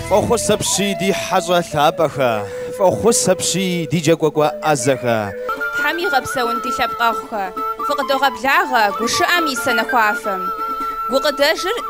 Фӏохъус апщий ди хьэщӏэ лъапӏэхэ, Фӏохъус апщий ди джэгуакӏуэ ӏэзэхэ. Тхьэм игъэпсэун ди лъэпкъэгъухэ, Фыкъыдогъэблагъэ гушыӏэм и сэнэхуафэм. Гукъыдэжыр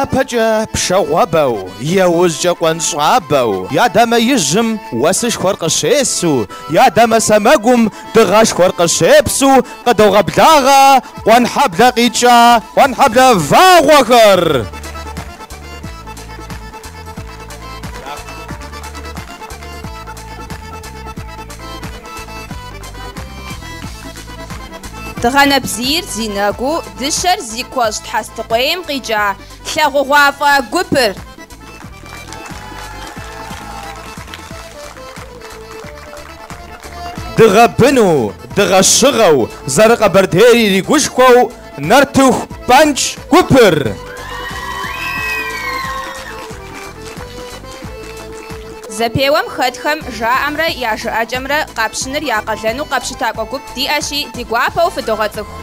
Япэкӏэ пшагъуэбэу, яужькӏэ къуанщӏэбэу, я дамэ ижьым уэсышхуэр къыщесу, я дамэ сэмэгум дыгъэшхуэр къыщепсу къыдогъэблагъэ Къуэнхьэблэ къикӏа Къуэнхьэблэ вагъуэхэр. Дыгъэ нэбзийр зи нэгу, дыщэр зи куэщӏ Тхьэстыкъуейм къикӏа тлъагъугъуафӏэ гупыр. Дыгъэ быну, дыгъэ щыгъэу, зэрыкъэбэрдейр иригушхуэу, Нартыху пӏэнкӏ гупыр. Зэпеуэм хэтхэм жаӏэмрэ я жыӏэкӏэмрэ къапщыныр я къалэну къэпщытакӏуэ гуп диӏэщи, ди гуапэу фыдогъэцӏыху.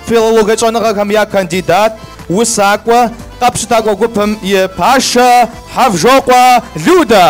Филологэ щӏэныгъэхэм я кандидат, усакӏуэ, къэпщытакӏуэ гупым и пашэ Хьэвжокъуэ Людэ.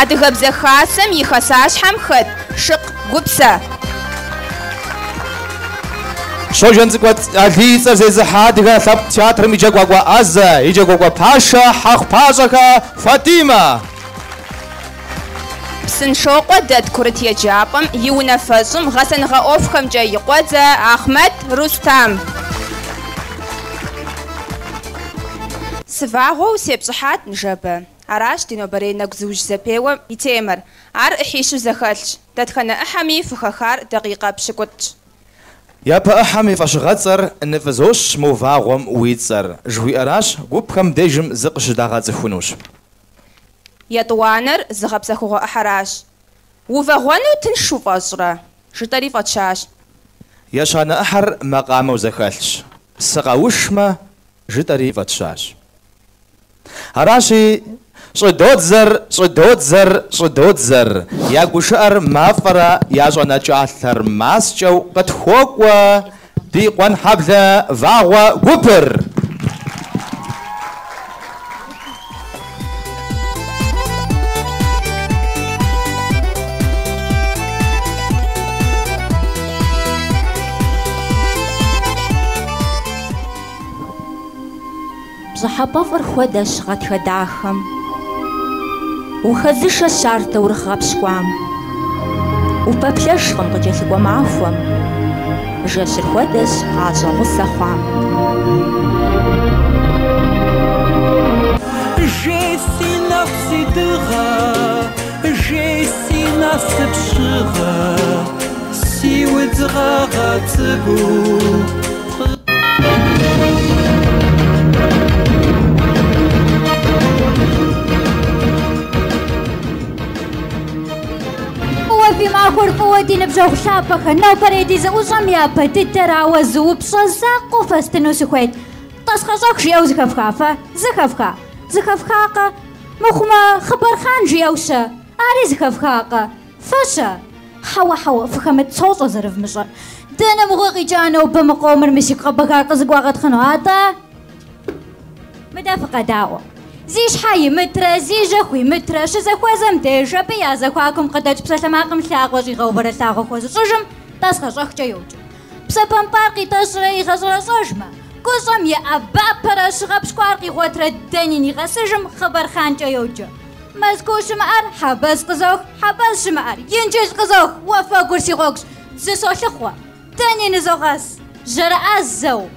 Адыгэбзэ Хасэм и хасащхьэм хэт Шыкъ Гупсэ. Щоджэнцӏыкӏу Алий и цӏэр зезыхьэ адыгэ лъэпкъ театрым и джэгуакӏуэ ӏэзэ, и джэгуакӏуэ пашэ Хьэхъупащӏэхэ Фатимэ. Псыншокъуэ дэт курыт еджапӏэм и унафэщӏым гъэсэныгъэ ӏуэхухэмкӏэ и къуэдзэ Ахъмэт Рустам. Сывагъуэу сепщӏыхьат ныжэбэ. Аращ ди нобэрей нэгузыужь зэпеуэм и темэр. Ар ӏыхьищу зэхэлъщ. Дэтхэнэ ӏыхьэми фыхэхар дакъикъэ пщыкӏутӏщ. Япэ ӏыхьэм и фӏэщыгъэцӏэр ныфӏызощ мо вагъуэм уи цӏэр, жыхуиӏэращ, гупхэм дежым зыкъыщыдагъэцӏыхунущ. Етӏуанэр зыгъэпсэхугъуэ ӏыхьэращ. Увагъуэну тыншу пфӏэщӏрэ? жытӏэри фӏэтщащ. Ещанэ ӏыхьэр макъамэу зэхэлъщ. Сыкъэушмэ? жытӏэри фӏэтщащ. Аращи, щӏыдодзэр, щӏыдодзэр, щӏыдодзэр, я гушыӏэр мафӏэрэ я щӏэнэкӏалъэр маскӏэу къытхуокӏуэ ди Къуэнхьэблэ вагъуэ гупыр! Пщӏыхьэпӏэфӏыр хуэдэщ гъатхэ дахэм. Ухэзышэщ ар таурыхъ гъэпщкӏуам. Упэплъэжкъым къыкӏэлъыкӏуэ махуэм. Жэщыр хуэдэщ гъащӏэ гъусэ хъуам. Жей си нэху си дыгъэ, жей си насып щыгъэ, си удз гъэгъа цӏыкӏуу. Фӏыуэ фи махуэр, фӏыуэ ди ныбжьэгъу лъапӏэхэр, нобэрей ди зэӏущӏэм япэ дыдэрауэ зы упщӏэ закъуэу фэстыну сыхуейт. Тӏасхъэщӏэх жиӏэу зыхэфха фэ? Зыхэфха. Зыхэфхакъэ? Мыхъумэ, хъыбархъан жиӏэу-щэ? Ари зыхэфхакъэ? Фэ-щэ? Хьэуэ-хьэуэ, фыхэмыт, сощӏэ зэрывмыщӏэр. Дэнэ мыгъуэ къикӏа нобэ мы къомыр мы сигу къэбэгар къызыгуагъэтхъыну, атӏэ? Мыдэ фыкъэдаӏуэ. Зи щхьэ имытрэ, зи жьэ хуимытрэ, щызэхуэзэм деж, абы я зэхуакум къыдэкӏ псалъэмакъым лъакъуэ щӏигъэувэрэ лъагъуэ хуэзыщӏыжым тӏасхъэщӏэхкӏэ йоджэ. Псэ пэмпӏар къитӏэщӏрэ игъэщӏэрэщӏэжмэ, куэщӏым иӏэбапэрэ щыгъэпщкӏуар къигъуэтрэ дэни нигъэсыжым хъыбархъанкӏэ йоджэ. Мэзкуу щымыӏэр Хьэбэз къызох, Хьэбэз щымыӏэр Инджыл къызох, уафэгур си гъуэгущ, зы солъыхъуэ, дэни нызогъэс, жьэрыӏэзэу.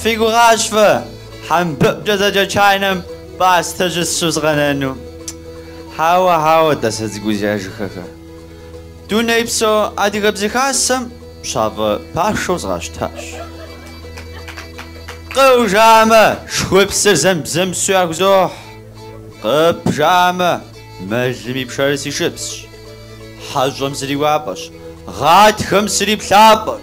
Фи гугъащ фэ хьэмбыӏукӏэ зэджэ чайнэм пӏастэ щысщӏу сыкъэнэну. Хьэуэ, хьэуэ, тӏасэ цӏыкӏузя жыхэхэ. Дунейпсо Адыгэ Бзэ Хасэм пщафӏэ пашэу зезгъэщтащ. Къыу жамэ, шхупсыр зэм бзэмсу яхузохь. Къып жамэ, мэлым и пшэрыр си шыпсщ. Хьэщӏэм сыриуапӏэщ, гъатхэм сыриплъапӏэщ.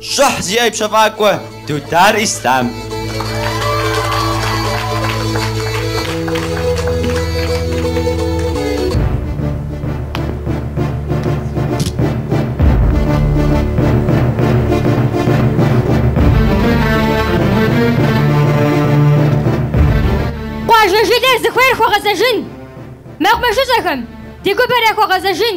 Щӏыхь зиӏэ и пщэфӏакӏуэ Дудар Ислъам. Къуажэ жылэр зыхуейр хуэгъэзэжын! Мэкъумэшыщӏэхэм, ди гупэр яхуэгъэзэжын!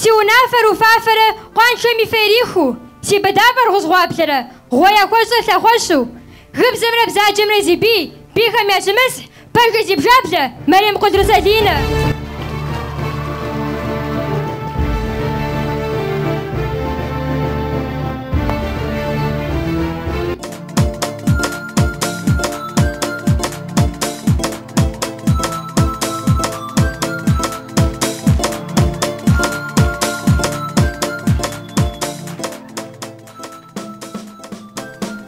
Си унафэр уфафэрэ къуаншэм и фэ ирихыу, си быдапӏэр гъузгъуаплэрэ гъуэ яхуэщӏэ лъэхъуэщу, гыбзэмрэ бзаджэмрэ зи бий, бийхэм ящымысхь, пэжыр зи бжаблэ, Мэрем Къудрысэлинэ.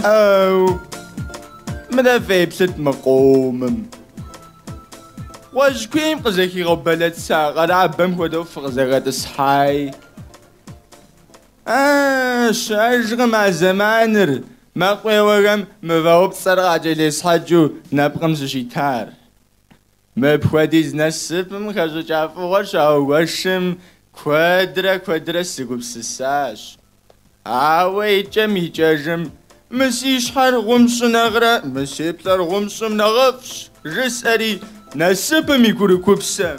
Оу! Мыдэ феплъыт мы къомым. Уэжь куейм къызэхигъэбэлэца къэрабэм хуэдэу фыкъызэхэтӏысхьай. А, щыӏэжкъым а зэманыр, мэкъуеуэхэм мывэупцӏэр къакӏэлесхьэкӏыу нэпкъым сыщитар. Мыпхуэдиз насыпым хэщӏыкӏа фӏыгъуэр щагуэшым куэдрэ куэдрэ сыгупсысащ. Ауэ икӏэм икӏэжым, Мы си щхьэр гъум сщӏы нэхърэ мы си плӏэр гъум сщӏым нэхъыфӏщ, жысӏэри насыпым и курыкупсэм.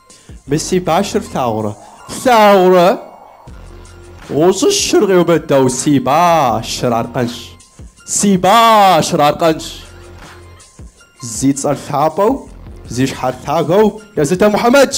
Мыси башыр флъагъурэ? Флъагъурэ! Гъущӏыщыр къеубыдэу си башыр аркъэнщ. Си башыр аркъэнщ. Зи цӏэр лъапӏэу, зи щхьэр лъагэу езытэ Мухьэмэдщ.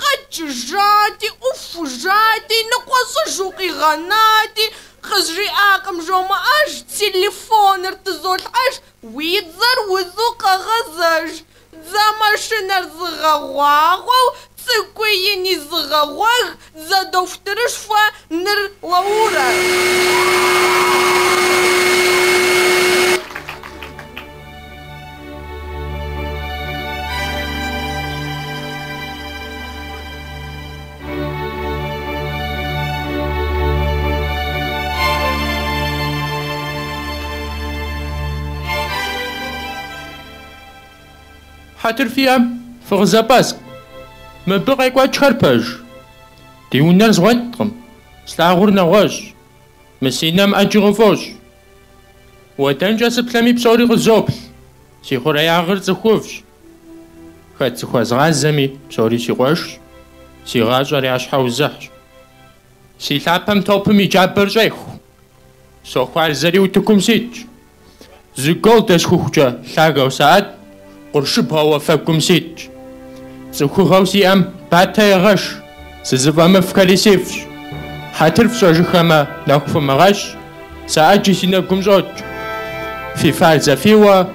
Къэкӏыжати, ӏуфужати, ныкъуэщӏыжу къигъэнати, къызжиӏакъым, жомыӏэж, телефоныр тызолъхьэж, уи дзэр узу къэгъэзэж, дзэ машинэр зыгъэгъуагъуэу, цӏыкӏуи ини зыгъэгъуэг, дзэ дохутырышхуэ Ныр уэурэ. Хьэтыр фиӏэм, фыкъызэпӏэскӏу. Мыбы къекӏуэкӏхэр пэж. Ди унэр згъуэткъым, слъагъур нэгъуэщӏ, мы си нэм ӏэджи къыфӏощӏ. Уэ дэнкӏэ сыплъэми псори къызоплъ, си хъуреягъыр цӏыхуфӏщ. Хэт сыхуэзгъазэми, псори си къуэшщ, си гъащӏэр я щхьэузыхьщ. Си лъапэм топым и джабэр щӏеху. Сохуарзэри утыкум ситщ. Зы гол дэсхухукӏэ лъагэу саӏэт къуршыбгъэу уафэгум ситщ. Цӏыхугъэу сиӏэм батэ егъэш, сызыфӏэмыфӏхэри сифӏщ. Хьэтыр фщӏэжыхэмэ нэху фымыгъэщ, сэ ӏэджи си нэгум щӏокӏ. Фи фар зэфиуэ.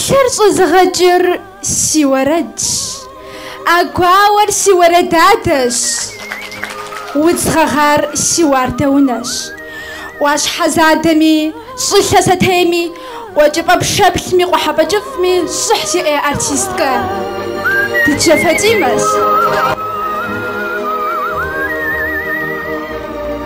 Лъыр щӏызыгъэкӏыр си уэрэдщ, а гуауэр си уэрэдадэщ, удз гъэгъар си уардэунэщ. ӏуащхьэ задэми, щӏылъэ сэтейми, къуэкӏыпӏэ пшэплъми, къухьэпӏэ кӏыфӏми щӏыхь зиӏэ артисткэ Дыщэкӏ Фатӏимэщ.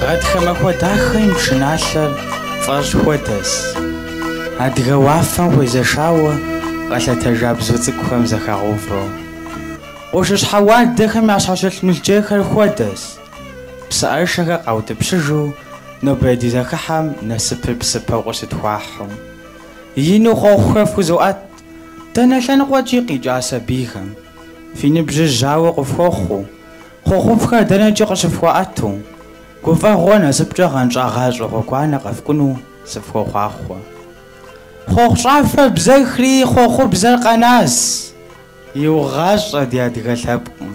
Гъатхэ махуэ дахэм и пшыналъэр фӏэщӏ хуэдэс. Адыгэ уафэм хуезэшауэ къэлъэтэжа бзу цӏыкӏухэм зэхагъэувэу. Къуршыщхьэ уардэхэм ящхьэщылъ мылджейхэр хуэдэс. Псыӏэрышэхэр къаутӏыпщыжу нобэрей ди зэхыхьэм насыпыр псыпэу къыщытхуахьу. Ину хъуэхъухэр фхузоӏэт дэнэ лъэныкъуэкӏи къикӏа сабийхэм. Фи ныбжьыр жьауэ къыфхуохъуу. Хъуэхъуфӏхэр дэнэкӏи къыщыфхуаӏэту, гуфӏэгъуэ насыпкӏэ гъэнщӏа гъащӏэ гъуэгуанэ къэфкӏуну сыфхуохъуахъуэ. Хъуэхъу щӏафэр бзэхри, хъуэхъубзэр къэнас, иугъащӏэ ди адыгэ лъэпкъым.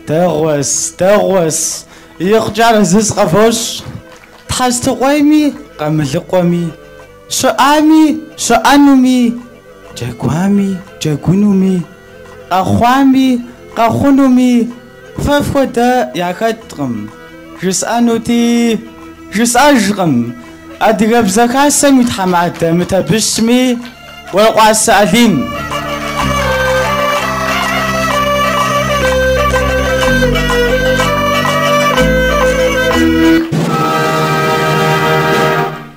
Дэгъуэс, дэгъуэс, икъукӏэ арэзы сыкъэвощӏ, Тхьэстыкъуейми, Къамылыкъуэми. Щыӏами, щыӏэнуми, джэгуами, джэгунуми, къэхъуами, къэхъунуми фэ фхуэдэ яхэткъым, жысӏэнути, жысӏэжкъым. Адыгэбзэ Хасэм и тхьэмадэ мы Табыщми, Уэркъуасэ Алим.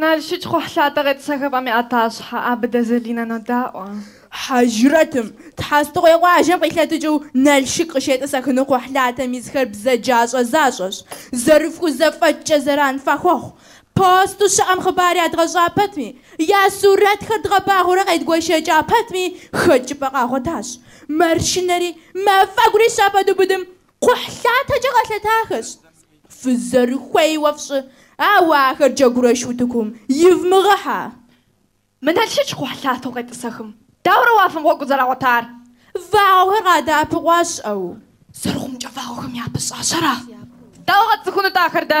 Налшык кхъухьлъатэ къетӏысэхыпӏэм и ӏэтащхьэ Абыдэ Залинэ нодаӏуэ. Хьэжрэтым, Тхьэстыкъуей къуажэм къилъэтыкӏыу Налшык къыщетӏысэхыну кхъухьлъатэм исхэр бзаджащӏэ защӏэщ, зэрыфхузэфӏэкӏкӏэ зэран фахуэхъу. Посту щыӏэм хъыбар ядгъэщӏа пэтми, я сурэтхэр дгъэбагъуэурэ къедгуэшэкӏа пэтми, хэкӏыпӏэ къагъуэтащ. Маршынэри, мафӏэгури щапэдубыдым, Кхъухьлъатэкӏэ къэлъэтахэщ. Фызэрыхуейуэ фщӏы, ауэ ахэр джэгурэш утыкум ивмыгъэхьэ. Мы Налшыч кхъухьлъатэу къетӏысэхым, дауэрэ уафэм гъуэгу зэрагъуэтар? Вагъуэхэр къадэӏэпыкъуащ, ӏэу. Зэрыхъумкӏэ вагъуэхэм япыщӏащ, ара? Дауэ къэтцӏыхунут ахэр дэ?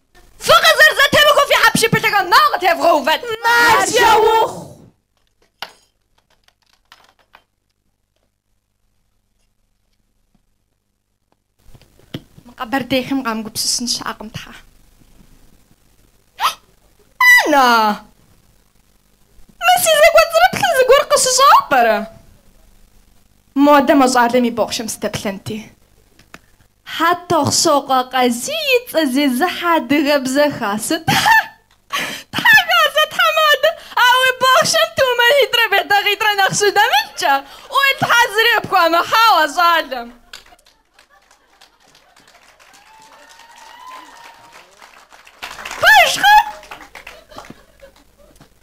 Фӏы къызэрызэтемыхыу фи хьэпшыпылъэхэм нэ къытевгъэувэт. Маржэ ухъу. Мы къэбэрдейхэм къамыгупсысын щыӏэкъым, Тхьэ. Анна! Мы си зэкӏуэцӏрыплъым зыгуэр къыщыщӏа пӏэрэ? Модэ мы щӏалэм и бохъшэм сыдэплъэнти. Хьэтохъсокъуэ Къазий и цӏэ зезыхьэ адыгэбзэ хасэ. Тхьэ хасэ тхьэмадэ, ауэ бохъшэм тумэнитӏрэ бетакъитӏрэ нэхъ щыдэмылъкӏэ, уей Тхьэ зыри пхуамыхьауэ щӏалэм. Пэжкъэ?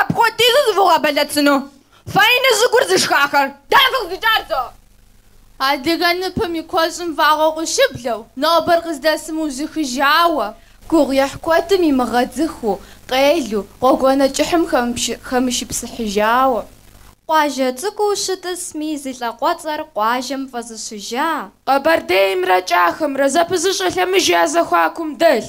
Апхуэдизу зывгъэбэлэцыну фэйни зыгур зышхахэр? Дэ фыкъызикӏар тӏэ? Адыгэ ныпым и куэщӏым вагъуэ къыщыблэу, нобэр къыздэсым мыужьыхыжауэ. Гугъуехь куэдым имыгъэдзыхыу, къелу, гъуэгуанэ кӏыхьым хэмышыпсыхьыжауэ. Къуажэ цӏыкӏуу щытӏысми, зи лӏакъуэцӏэр къуажэм фӏэзыщыжа. Къэбэрдеймрэ Кӏахэмрэ зэпызыщӏэ лъэмыж я зэхуакум дэлъ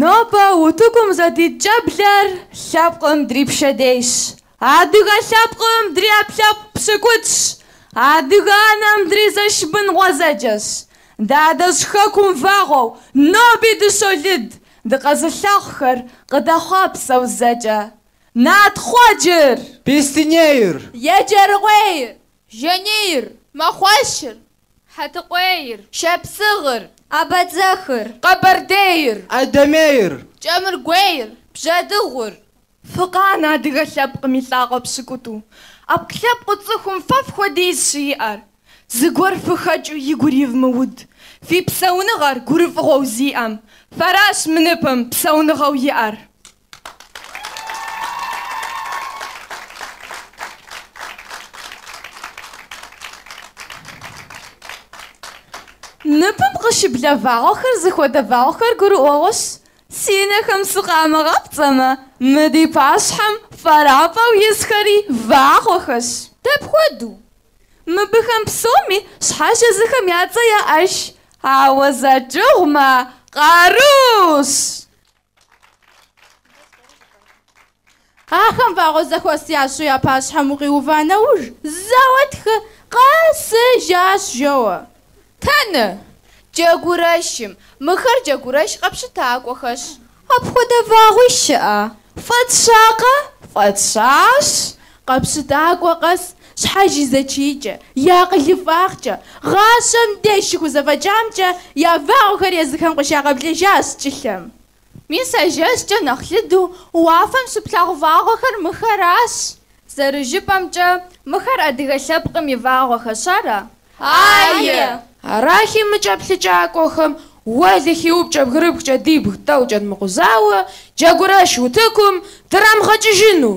Нобэ утыкум зэдит щӏэблэр лъэпкъым дрипщэдейщ. Адыгэ лъэпкъым дриӏэпкълъэпкъ пщыкӏутӏщ, адыгэ анэм дризэш бын гъуэзэджэщ. Ди адэжь хэкум вагъуэу, ноби дыщолыд, дыкъэзылъагъухэр къыдэхъуапсэу зэкӏэ. Натхъуэджыр! Беслъэнейр! Еджэрыкъуейр! Жанейр, мэхъуэшыр, хьэтыкъуейр. Шапсыгъыр, абэдзэхыр. Къэбэрдейр. Адэмейр. Кӏэмыргуейр, бжьэдыгъур. Фыкъанэ адыгэ лъэпкъым и лӏакъуэ пщыкӏутӏу, ӏэпкълъэпкъыу цӏыхум фэ фхуэдиз щиӏэр, зыгуэр фыхэкӏыу игу иривмыуд, фи псэуныгъэр гурыфӏыгъуэу зиӏэм, фэращ мы ныпым псэуныгъэу иӏэр. Ныпым къыщыблэ вагъуэхэр зыхуэдэ вагъуэхэр гурыӏуэгъуэщ. Си нэхэм сыкъамыгъэпцӏэмэ, мы ди пащхьэм фӏэрафӏэу исхэри вагъуэхэщ. Дапхуэдэу? Мыбыхэм псоми щхьэж езыхэм я цӏэ яӏэщ, ауэ зэкӏыгъумэ, къарущ. Ахэм вагъуэ зэхуэс ящӏу я пащхьэм укъиува нэуж, зэуэ тхы къэсыжащ, жоӏэ. Тэнэ! Джэгурэшым! Мыхэр джэгурэш къэпщытакӏуэхэщ. Апхуэдэ вагъуи щыӏэ? Фӏэтщакъэ? Фӏэтщащ. Къэпщытакӏуэ къэс щхьэж и зэчийкӏэ, и акъылыфӏагъкӏэ, гъащӏэм деж щыхузэфӏэкӏамкӏэ я вагъуэхэр езыхэм къыщагъэблэжащ кӏылъэм. Мис а жэщкӏэ нэхъ лыду уафэм щыплъагъу вагъуэхэр мыхэращ. Зэрыжыпӏэмкӏэ, мыхэр адыгэ лъэпкъым и вагъуэхэщ, ара? Ае! Арахи, мы кӏэплъыкӏакӏуэхэм уэлэхьи упкӏэ бгырыпхкӏэ дибг тӏэу кӏэдмыкъузауэ, джэгурэш утыкум драмыгъэкӏыжыну?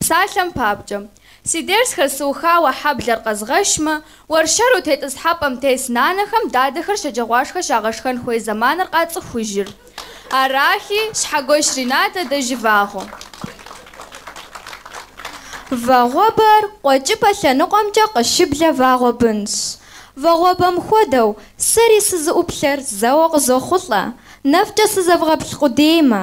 Псалъэм папкӏэ, си дерсхэр сыухауэ хьэблэр къэзгъэшмэ, уэршэру тетӏысхьэпӏэм тес нанэхэм дадэхэр шэджагъуашхэ щагъэшхэн хуей зэманыр къацӏыхужыр. Арахи, Щхьэгуэш Ринатэ дэ жывагъуэ. Вагъуэбэр къуэкӏыпӏэ лъэныкъуэмкӏэ къыщыблэ вагъуэ бынщ. Вагъуэбэм хуэдэу, сэри сызыӏуплъэр зэуэ къызохъулӏэ, нэфӏкӏэ сызэвгъэплъ къудеймэ.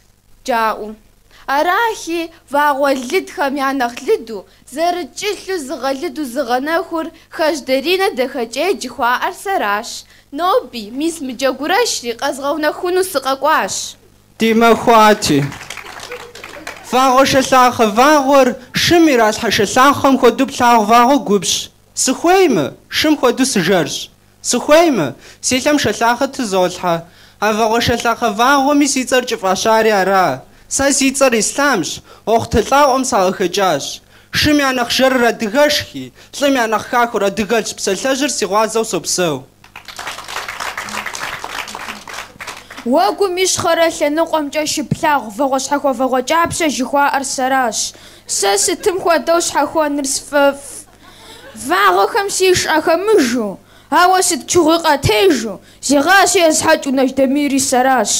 Джаӏу. Арахи, вагъуэ лыдхэм я нэхъ лыду, зэрыкӏылъу зыгъэлыду зыгъэнэхур Хаж Даринэ Дахэкӏей жыхуаӏэр сэращ. Ноби, мис мы джэгурэшри, къэзгъэунэхуну сыкъэкӏуащ. Ди махуати. Вагъуэ шэлъахъэ вагъуэр шым иралъхьэ шэлъахъэм хуэдэу плъагъу вагъуэ губжьщ. Сыхуеймэ, шым хуэдэу сыжэрщ. Сыхуеймэ, си лъэм шэлъахъэ тызолъхьэ. А вагъуэ шэлъахъэ вагъуэми си цӏэр кӏыфӏащари ара? Сэ си цӏэр Ислъамщ, Уэхъутэ лӏакъуэм сакъыхэкӏащ. Шым я нэхъ жэрыр адыгэшхи, лӏым я нэхъ хахуэр адыгэлӏщ, псалъэжьыр си гъуазэу сопсэу. Уэгум ищхъэрэ лъэныкъуэмкӏэ щыплъагъу вагъуэщхьэхуэ-вагъуэкӏапщэ жыхуаӏэр сэращ. Сэ сытым хуэдэу щхьэхуэныр сфӏэфӏ. Вагъуэхэм сиш ахэмыжу, ауэ сыт чыгъуи къатежу, зи гъащӏи есхьэкӏыу Нэж Дамири сэращ.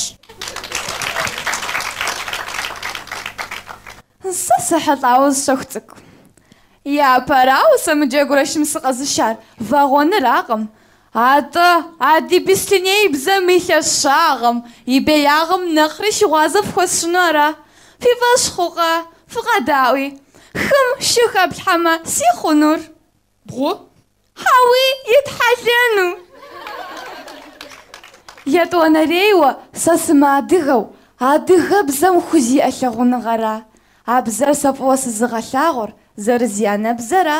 Сэ сыхьэлӏауэ зы щэху цӏыкӏу. Япэрауэ сэ мы джэгурэшым сыкъэзышар вагъуэныракъым, Атӏэ, ади бислъыней бзэм и лъэщагъым, и беягъым нэхъри щыгъуазэ фхуэсщӏыну ара? Фи фӏэщ хъукъэ? Фыкъэдаӏуи. Хым шы хэплъхьэмэ, си хъунур? Бгъу? Хьэуи, итхьэлэну! Етӏуанэрейуэ, сэ сымыадыгэу, адыгэбзэм хузиӏэ лъагъуныгъэра а бзэр сэ фӏыуэ сызыгъэлъагъур, зэрызианэбзэра?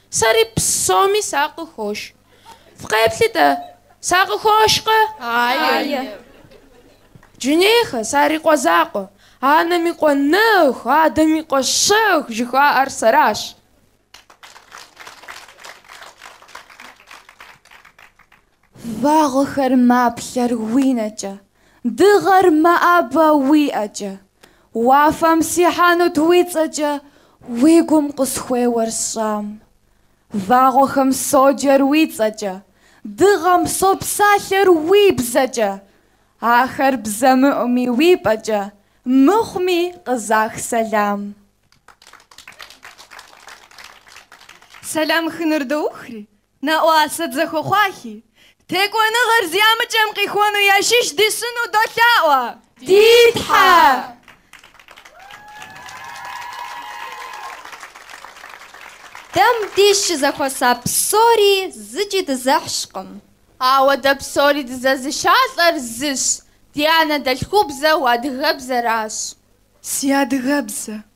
Сэри псоми сакъыхош. Фыкъеплъи-тӏэ, сакъыхошкъэ? Ае. Джинейхэ сарикъуэ закъуэ. Анэм и къуэ нэху, адэм и къуэ щэху жыхуаӏэр сэращ. Вагъуэхэр маплъэр уи нэкӏэ, дыгъэр мэӏэбэ уи ӏэкӏэ, уафэм сихьэнут уи цӏэкӏэ уи гум къысхуеуэр сщӏам. Вагъуэхэм соджэр уи цӏэкӏэ, дыгъэм сопсалъэр уи бзэкӏэ, ахэр бзэмыӏуми уи пӏэкӏэ, мыхъуми къызах сэлам. Сэлам хыныр доухри, Нэӏуасэ дызэхуэхъуахи, Текӏуэныгъэр зи ӏэмыкӏэм къихуэну ящыщ дищӏыну долъаӏуэ! Ди Тхьэ! Дэ мыбдеж щызэхуэса псори зыкӏи дызэхьщкъым. Ауэ дэ псори дызэзыщалӏэр зыщ, ди анэдэлъхубзэу адыгэбзэращ. Си адыгэбзэ!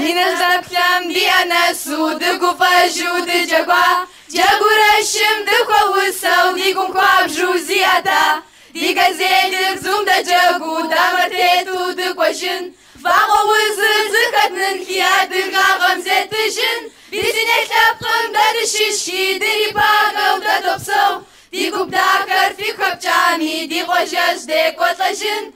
Ди нэ здэплъэм ди ӏэ нэсу дыгуфӏэжу дыджэгуа, Джэгурэшым дыхуэусэу ди гум хуабжу зиӏэта. Ди газелыр бзум дэджэгуу дамэр тету дыкӏуэжын, Вагъуэ узыр зыхэднынхи адыгагъэм зеттыжын. Бислъыней лъэпкъым дэ дыщыщхи дырипагэу дэ допсэу, Ди гуп дахэр фигу хэпкӏами ди къуажэжь декӏуэлӏэжын.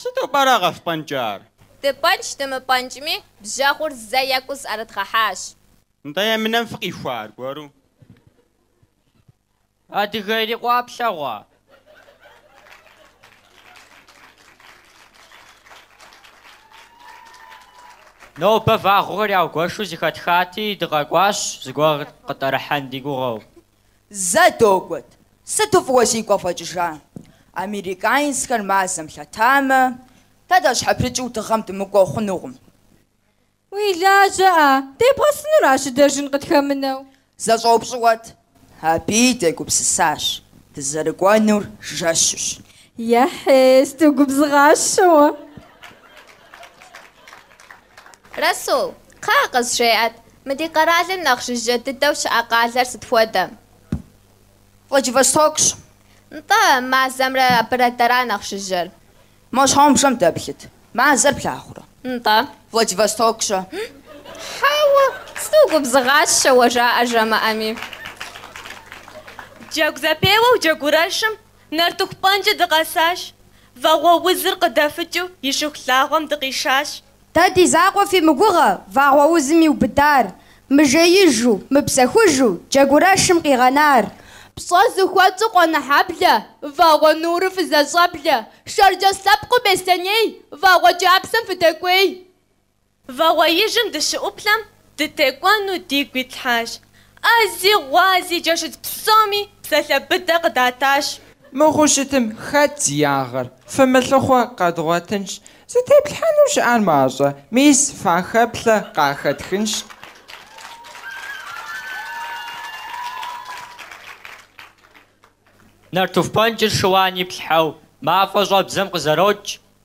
Сыту пӏэрэ къэфпӏэнкӏар? Дыпӏэнкӏ-дымыпӏэнкӏми, бжэгъур зэ екӏуу зыӏэрыдгъэхьащ. Нтӏэ, емынэм фыкъихуа аргуэру? Адыгэ ирикъуа плъэгъуа? Нобэ вагъуэхэр яугуэшу зыхэтхати, дыкъэкӏуащ, зыгуэр къытӏэрыхьэн ди гугъэу. Зэ догуэт, сыту фӏыуэ сигу къэвгъэкӏыжа! Американцхэр мазэм лъэтамэ, дэ дащхьэпрыкӏыу дыгъэм дымыкӏуэу хъунукъым. Уи лажьэ-а? Дебгъэсыну ара щыдэжын къытхэмынэу? Зэ щӏэупщӏыӏуэт, абыи дегупсысащ, дызэрыкӏуэнур жэщущ. Ехьей, сыту угубзыгъащэ уэ! Расул, кхъыӏэ, къызжеӏэт, мы ди къэралым нэхъ жыжьэ дыдэу щыӏэ къалэр сыт хуэдэ? Владивостокщ. Нтӏэ, мазэмрэ абырэ дэра нэхъ жыжьэр? Мо щхьэгъубжэм дэплъыт, мазэр плъагъурэ. Нтӏэ. Владивостокщэ. Хьэуэ, сыту угубзыгъащэ уэ жаӏэ жамыӏэми. Джэгу зэпеуэу джэгурэшым Нартыху пӏэнкӏэ дыкъэсащ. Вагъуэ узыр къыдэфыкӏыу и шыхулъагъуэм дыкъишащ. Дэ ди закъуэ фимыгугъэ, вагъуэ узым иубыдар, мыжеижу, мыпсэхужу, джэгурэшым къигъэнар. Пщӏэ зыхуэтщӏу къонэхьэблэ, вагъуэ нуру фызэщӏэблэ, шэрджэс лъэпкъыу беслъэней, вагъуэ кӏапсэм фыдэкӏуей. Вагъуэижым дыщыӏуплъэм, дытекӏуэну дигу итлъхьащ. ӏэзи гъуази джэшыдз псоми псалъэ быдэ къыдатащ. Мыхъуу щытым, хэт зи ягъэр? Фымылъыхъуэ, къэдгъуэтынщ. Зытеплъхьэну щыӏар мащӏэ, мис фахэплъэ къахэтхынщ. Нартыху пӏэнкӏыр шыуан иплъхьэу мафӏэ щӏэбдзэм къызэрокӏ,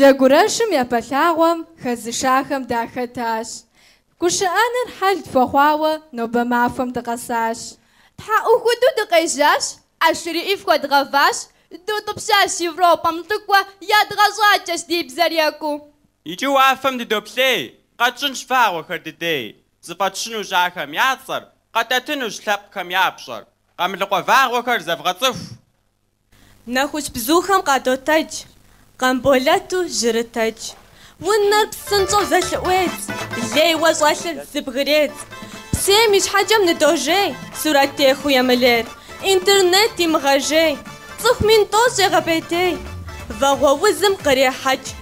Джэгурэшым япэ лъагъуэм хэзышахэм дахэтащ. Гушыӏэныр хьэл тхуэхъуауэ нобэ махуэм дыкъэсащ. Тхьэӏухуду дыкъежьащ, ӏэшрыӏи фхуэдгъэващ, дутӏыпщащ Европэм лӏыкӏуэ ядгъэщӏакӏэщ ди бзэр екӏуу. Иджы уафэм дыдоплъей, къэтщӏынщ вагъуэхэр дыдей. Зыфӏэтщынущ ахэм я цӏэр, къэтӏэтынущ лъэпкъхэм я пщӏэр. Къамылыкъуэ вагъуэхэр зэвгъэцӏыху! Нэхущ бзухэм къадотэдж. Къамболэту жьырытэдж. Унэр псынщӏэу зэлъыӏуедз. Лейуэ щӏэлъыр зыбгыредз. Псейм и щхьэкӏэм ныдожей. Сурэт техыу емылейр. Интернет имыгъэжей. Цӏыху мин тӏощӏ егъэпӏейтей. Вагъуэ узым кърехьэкӏ.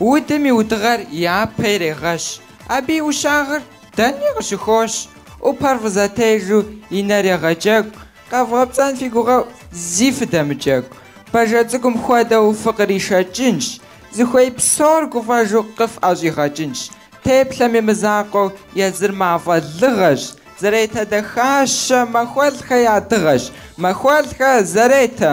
Удым и удыгъэр япэ ирегъэщ, абы и ӏущагъыр дэни къыщыхощ, ӏупэр фӏызэтежу и нэр егъэджэгу, къэвгъэпцӏэн фи гугъэу зи фыдэмыджэгу, бажэ цӏыкӏум хуэдэу фыкъришэкӏынщ, зыхуей псор гуфӏэжу къыфӏэщӏигъэкӏынщ, Теплъэми мызакъуэу езыр мафӏэ лыгъэщ, Зэретэ дахащэ Махуэлӏхэ я дыгъэщ, Махуэлӏхэ Зэретэ.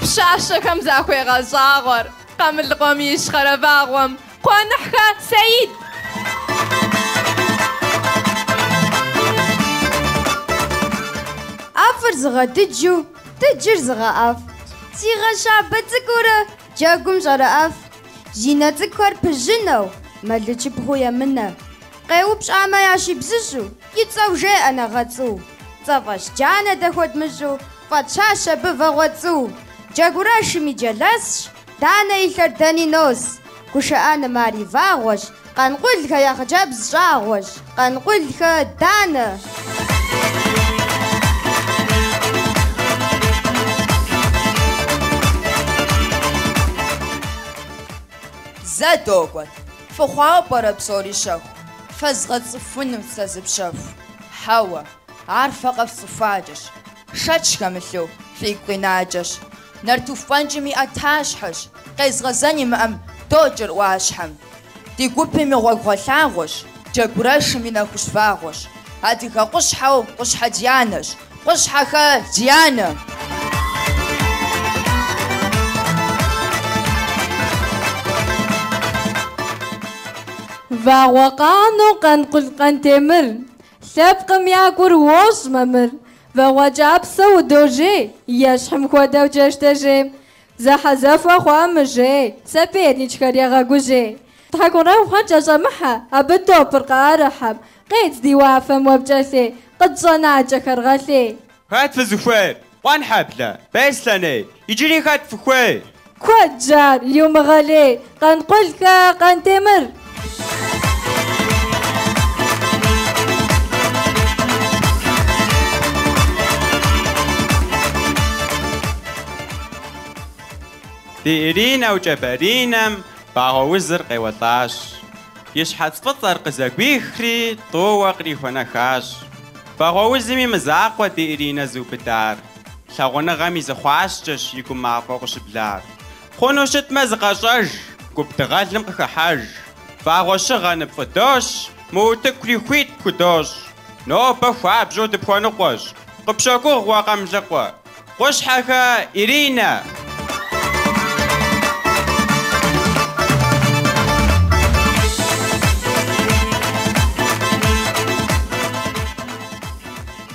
Пщащэхэм захуегъэщӏагъуэр Къамылыкъуэм и Ищхъэрэ вагъуэм Къуаныхьхэ Сэид! ӏэфӏыр зыгъэдыджу дыджыр зыгъэӏэфӏ. Си гъэ щабэ цӏыкӏуурэ джэгум щӏэрыӏэф. Зи нэ цӏыкӏухэр пыжьынэу, мэлычыпхъуу емынэ. Къеупщӏамэ ящибзыщӏу, И цӏэу жеӏэ нэгъэцӏу. Цӏэфӏэщ джанэ дэ хуэдмыщӏу, фӏэтщащ абы Вагъуэцӏу. Джэгурэшым и джэлэсщ, Данэ и лъэр дэни нос. Гушыӏэным ар и вагъуэщ, Къанкъулхэ я хъыджэбз щӏагъуэщ. Къанкъулхэ Данэ. Зэ докӏуэт. Фыхъуауэ пӏэрэ псори щэху? Фэзгъэцӏыхунут сэ зы пщэху. Хьэуэ, ар фэ къэфцӏыхуакӏэщ. Шэч хэмылъу, фигу къинакӏэщ. Нартыху фӏэнкӏым и ӏэтащхьэщ. Къезгъэзэн имыӏэм, докӏыр ӏуащхьэм. Ди гупым и гъуэгугъэлъагъуэщ. Джэгурэшым и нэхущ вагъуэщ. Адыгэ къущхьэу Къущхьэ Дианэщ. Къущхьэхэ Дианэ. Вагъуэ къанэу Къанкъул Къантемыр. Лъэпкъым я гур уощӏ мамыр. Вагъуэ кӏапсэу удожей. Ещхьым хуэдэу джэштежей. Зэхьэзэхуэ хъуа мыжей. Соперникхэр егъэгужьей. Тхьэкӏурэхъуэр кӏэщӏэмыхьэ. Абы топыр къыӏэрыхьэм. Къедз ди уафэм уэ пкӏэлъей. Къытщӏэнакӏэхэр гъэлъей. Хэт фызыхуейр? Къуэнхьэблэ, Беслъэней. Иджыри хэт фыхуейр? Куэдщ ар, иумыгъэлей. Къанкъулхэ, Къантемыр. Ди Иринэу Кӏэбэринэм вагъуэ узыр къеуэлӏащ. И щхьэц фӏыцӏэр къызэгуихри, тӏууэ къриухуэнэхащ. Вагъуэ узым и мызакъуэ ди Иринэ зыубыдар. Лъагъуныгъэм и зы хъуаскӏэщ и гум мафӏэу къыщыблар. Хъуну щытмэ, зыкъэщӏэж, гуп дыгъэлым къыхыхьэж. Вагъуэ щыгъэ ныпфӏыдощ, мы утыкури хуит пхудощӏ. Нобэ хуабжьу дыпхуэныкъуэщ, къыпщогугъ уэ Къамылыкъуэ. Къущхьэхэ Иринэ.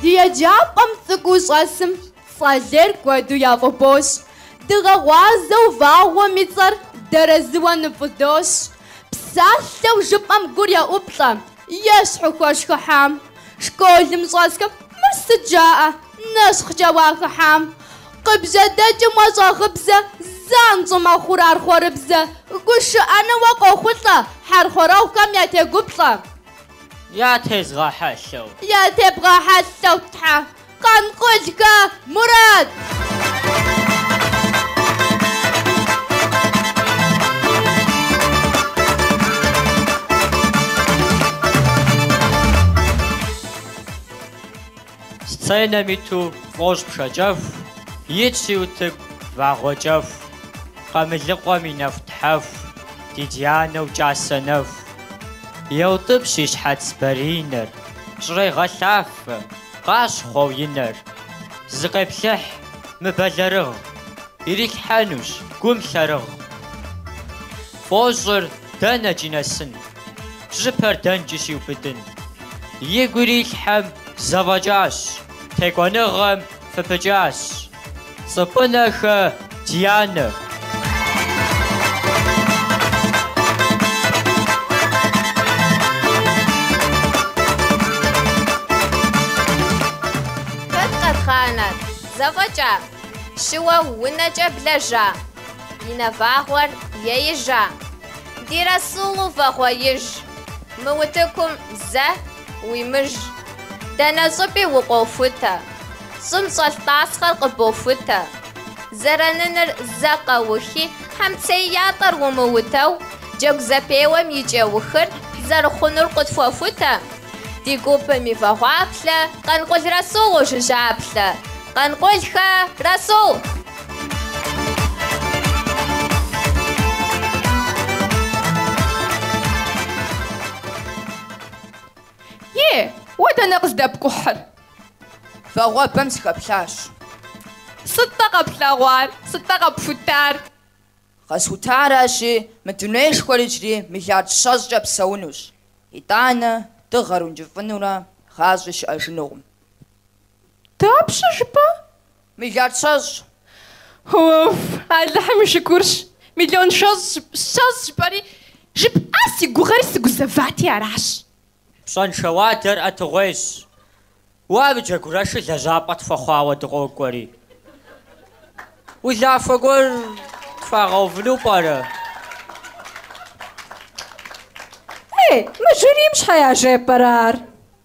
Ди еджапӏэм цӏыкӏуу щӏэсым цӏэлей куэду яфӏыбощ. Дыгъэ гъуазэу вагъуэм и цӏэр дэрэзыуэ ныфӏыдощ. Псалъэу жыпӏэм гур еӏуплӏэ, Ещхьу хуэшхыхьам. Школым щӏэсхэм мыр сыт жаӏэ? Нэщхъкӏэ уахыхьам. Къыбжьэдэкӏым уэ щӏагъыбзэ, занщӏэу мэхъур ар хъуэрыбзэ. Гушыӏэну уэ къохъулӏэ, хьэрхуэрэгъухэм ятегуплӏэ. Ятезгъэхьэлъэу. Ятебгъэхьэлъэу Тхьэ. Къанкъулхэ Мурат. Сценэм иту фӏощӏ пшэкӏэху, итщи утыку вагъуэкӏэху, Къамылыкъуэм и нэху тхьэху, ди Дианэу кӏасэ нэху. Еутӏыпщ и щхьэц баринэр, щӏрегъэлъафэ. Къащхъуэу и нэр. Зыкъеплъыхь мыбэлэрыгъ, Ирилъхьэнущ гум лъэрыгъ. Фӏощӏыр дэнэкӏи нэсын, Бжьыпэр дэнкӏи щиубыдын? Игу ирилъхьэм зэфӏэкӏащ, Текӏуэныгъэм фыпыкӏащ. Цӏыпӏынэхэ Дианэ. Хэт къэдгъанэр, зэфӏэкӏа? Щыуэ унэкӏэ блэжа? И нэвагъуэр еижа? Ди Расулу вагъуэиж. Мы утыкум зэ Уимыж. Дэнэ щӏыпӏи укъохутэ. Щӏым щӏэлъ тӏасхъэр къыбохутэ. Зэраныныр зэ къэухи, хьэмцей ятӏэр умыутэу, джэгу зэпеуэм и кӏэухыр зэрыхъунур къытхуэхутэ. Ди гупым и вагъуаплъэ Къанкъул Расул ужыжьаплъэ. Къанкъулхэ, Расул! Е, уэ дэнэ къыздэпкӏухьыр? Вагъуэбэм сыхэплъащ. Сыт-тӏэ къэплъэгъуар, сыт-тӏэ къэпхутар? Къэсхутаращи, мы дунейшхуэр иджыри миллиард щэщӏкӏэ псэунущ. Итӏанэ, дыгъэр ункӏыфӏынурэ гъащӏи щыӏэжынукъым. Дапщэ жыпӏэ? Миллиард щэщӏ. Уф, Алыхьым и шыкурщ, миллион щэщӏ жыпӏэри, жыпӏа си гугъэри сыгузэвати аращ. Пщӏэншэ уадэр ӏэтыгъуейщ. Уэ абы джэгурэшыр лэжьапӏэ тхуэхъуауэ дыкъокӏуэри. Улахуэ гуэр тхуагъэувыну пӏэрэ? Ей, мы жюрийм щхьэ яжепӏэрэ ар?